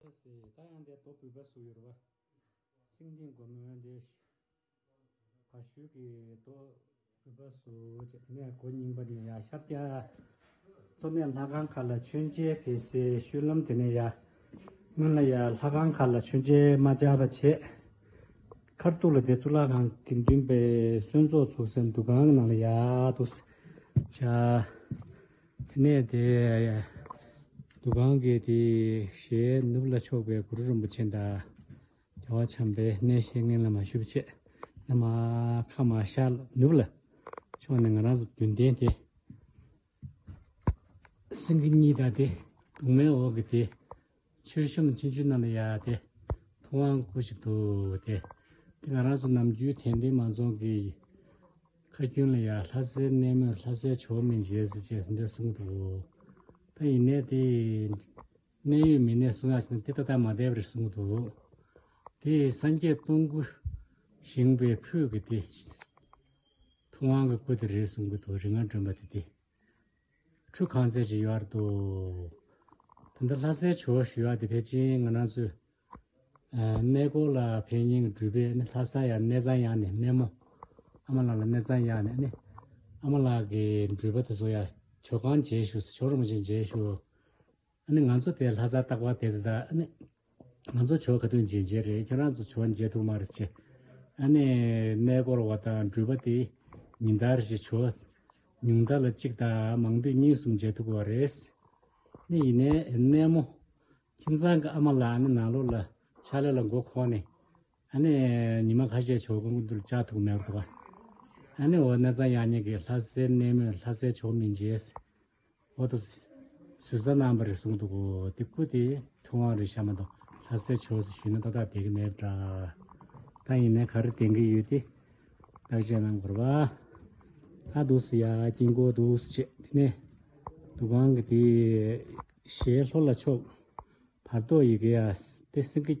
ཨེ་སི་ད་ཡང་དེ་དོ་བུས་པ་སུ་ཡོད་བ། སེང་ལྡིང་སྒོ་མོ་དེ་བ་ཤུལ་གྱི་དོ་བུས་པ་སུ་བྱེད་དེ་ནས་གོ་རྙིང་པ་ནས་ཡ་ཤར་རྒྱ་མཚོ་ནས་ལྷ་ཁང་ཁ་ལ་མཆོད་མཇལ་བེ་སི་ཤུལ་ལམ་དེ་ནས་ཡ་སྔོན་ལ་ཡ་ལྷ་ཁང་ཁ་ལ་མཆོད་མཇལ་མ་བྱ་བ་བྱེད། མཁར་སྟུག་ལ་དེ་གཙུག་ལག་ཁང་གི་མདུན་པའི་གསོན་ཚོགས་ཚུགས་སའི་འདུ་ཁང་གི་ནང་ལ་ཡ་དུ་བྱ། དེ་ནས་དེས་འདུ་ཁང་གི་དེའི་ཞལ་ནུབ་ལ་ཕྱོགས་པའི་གུ་རུ་རིན་པོ་ཆེ་འདའ། རྒྱལ་བ་བྱམས་པའི་གནས་བཤེས་གཉེན་བླ་མ་ཞུ་བ་ཆེ། ན་མ་ཁ་མ་ཤར་ནུབ་ལ་ཕྱོགས་ནས་ང་རང་ཚོ་བདུན་ལྡན་དེ། སེང་གེ་གཉིས་དང་དེ་གདུང་མའི་འོག་གི་དེ། མཆོད་གཤོམ་མཆོད་མཇུག་རྣམས་ལ་ཡ་སྟེ། ཐུབ་དབང་སྐུ་ཞིག་དུ་སྟེ། དེ་ང་རང་ཚོ་ནམ་རྒྱུན་དད་ལྡན་མང་ཚོགས་ཀྱི་ཁ་རྒྱུན་ལ་ཡ་ལྷ་སའི་གནས་མོས་ལྷ་སའི་ཆོས་མིན་བྱེད་ཟེར་ཅེས་ཟེར་འདོད་གསུངས་འདུག་ད་ཡིན་ནའི་དེ་གནད་ཡོད་མི་སྣས་གསུངས་ཡག་བྱས་ན་དེ་ད་ལྟ་མ་བསྡད་པ་རེད་གསུངས་འདུག་དེ་སངས་རྒྱས་སྟོང་སྐུ་བཞེངས་པའི་ཕུད་ཀྱི་དེ། ཐུབ་དབང་གི་སྐུ་དེ་རེད་གསུངས་གི་འདུག་རིག་སྔགས་སྒྲོན་པ་དེ་དེ། ཁྲུ་གང་བརྩེགས་ཀྱི་ཡོལ་བར་དུ། དེ་འདྲ་ལྷ་སའི་བྱེའུ་ཞུ་བ་དེ་ཕལ་ཆེན་ང་རང་ཚོའི། གནས་སྐོར་ལ་ཕན་སྙིང་བསྒྲུབས་པས་ནི་ལྷ་ས་ཡ་གནས་ཚང་ཡག་ནས་སྨན་མོ། ཨ་མ་ལགས་ལ་གནས་ཚང་ཡག་ནས་ནི། ཨ་མ་ལགས་ཀྱི་འགྲུལ་པ་དེ་ཚོ་ཡ། བྱོ་གང་མཇལ་ཞུ་ཟེར་བྱོ་རོག་མོ་ཅིག་མཇལ་ཞུ། ཨ་ནི་ང་ཚོ་དེ་ལྷ་སར་བཏགས་པ་དེ་རེད་ད་ཨ་ནི། ང་ཚོ་ཆོལ་ཁ་དོན་གཅིག་མཇལ་རེད་ཁྱོད་རང་ཚོ་ཆོལ་མཇལ་ཐུག་མ་རེད་ཅེས། ཨ་ནི། གནས་སྐོར་བ་དང་འགྲུལ་པ་དེ། ཉིན་ལྟར་གྱི་ཆོལ། ཉུང་མཐའ་ལ་གཅིག་དང་མང་དུས་གཉིས་གསུམ་མཇལ་ཐུག་པ་རེད། ནི་ཡིན་ནའི་གནས་མོ། ཁྱིམ་ཚང་གི་ཨ་མ་ལ་ཨ་ནི་ནང་ལོགས་ལ་ཕྱག་ལས་ལ་མགོ་ཁོག་ནས། ཨ་ནི། ཉི་མ་ཁ་ཤས་ཆོལ་ཁ་དགོན་དུ་བཅའ་ཐུག་མེད་པ་དང། ཨ་ནི་འོ་གནས་ཚང་ཡག་ཉེས་ཀྱི་ལྷ་སའི་གནས་མོས་ལྷ་སའི་ཆོག་མི་མཇལ། འོག་ཏུ་ཟུར་ཟ་རྣམ་པར་གསུངས་འདུག་གོ། དེ་སྐུ་དེ་ཐུབ་དབང་རེད་བཤམས་མ་འདུག་ལྷ་སའི་ཕྱོགས་སུ་བཞུགས་ན་ཏག་ཏག་བསྡད་ཀྱི་མེད་འདྲ། ད་ཡིན་ནའི་ག་རེ་བསྟན་གྱི་ཡོད་དེ་བརྟག་དཔྱད་གནང་དགོས་ར། ལྷ་འདུག་ཟེར་ཡ་དཀྱིལ་འཁོར་འདུག་ཟེར་བྱས་དེ་ནས་འདུག་ཁང་གི་དེ་ཞལ་ལྷོ་ལ་ཕྱོགས། བར་དོ་ཡི་གེ་ཡ་སྟེ་སེང་གེ།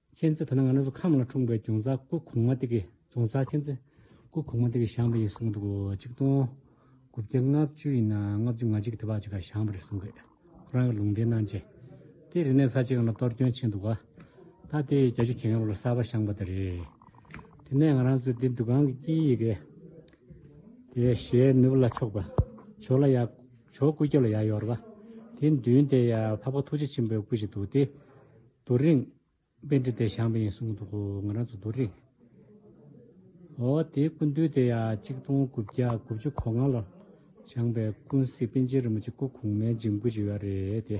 མཁྱེན་བརྩེ་ད་ནི་ང་ནི་སུ་ཁམས་ལ་འཁྲུངས་པའི་ཀྱང་ཟ་སྐུ་གོང་མ་དེ་གི་རྫོང་ས་མཁྱེན་བརྩེ་སྐུ་གོང་མ་དེ་གི་བཞེངས་པ་ཡིན་གསུངས་འདུག་གཅིག་སྟོང་དགུ་བརྒྱ་ལྔ་བཅུ་ཡིན་ན་ལྔ་བཅུ་ང་གཅིག་གི་དེ་བག་ཅིག་ག་བཞེངས་པ་རེད་གསུངས་གི་ཁོ་རང་གི་ལུང་འདྲེན་གནང་རྗེས་དེ་རི་ནས་ས་ཅིག་གང་ལ་གཏོར་སྐྱོན་ཕྱིན་འདུག་ག་ད་དེ་རྒྱ་ཆུ་གྱེས་མཁན་ལོག་ལ་གསར་བ་བཞེངས་པ་དེ་རེད། དེ་ནས་ང་རང་ཚོས་དེ་འདུ་ཁང་གི་དཀྱིལ་ཡི་གེ་དེ་ཞལ་ནུབ་ལ་ཕྱོགས་པ་ཇོ་ལ་ཡག་ཇོ་སྐུ་སྐྱབས་ལ་ཡག་ཡོར་བ་དེ་མདུན་དེ་ཡང་འཕགས་པ་ཐུགས་རྗེ་ཆེན་པོའི་སྐུ་ཞིག་འདུག་སྟེ། རྡོ་རིང། དཔེ་འདི་དེ་བྱང་བ་ཡིན་གསུངས་འདུག་ང་རང་ཚོ་རྡོ་རིང། འོ་དེའི་སྐུ་མདུན་དེ་ཡང་གཅིག་སྟོང་དགུ་བརྒྱ་དགུ་བཅུ་གོ་ལྔ་ལོར་བྱང་བའི་ཀུན་གཟིགས་པཎ་ཆེན་རིན་པོ་ཆེ་སྐུ་གོང་མའི་འཇིམ་སྐུ་བྱི་བ་རེད་དེ།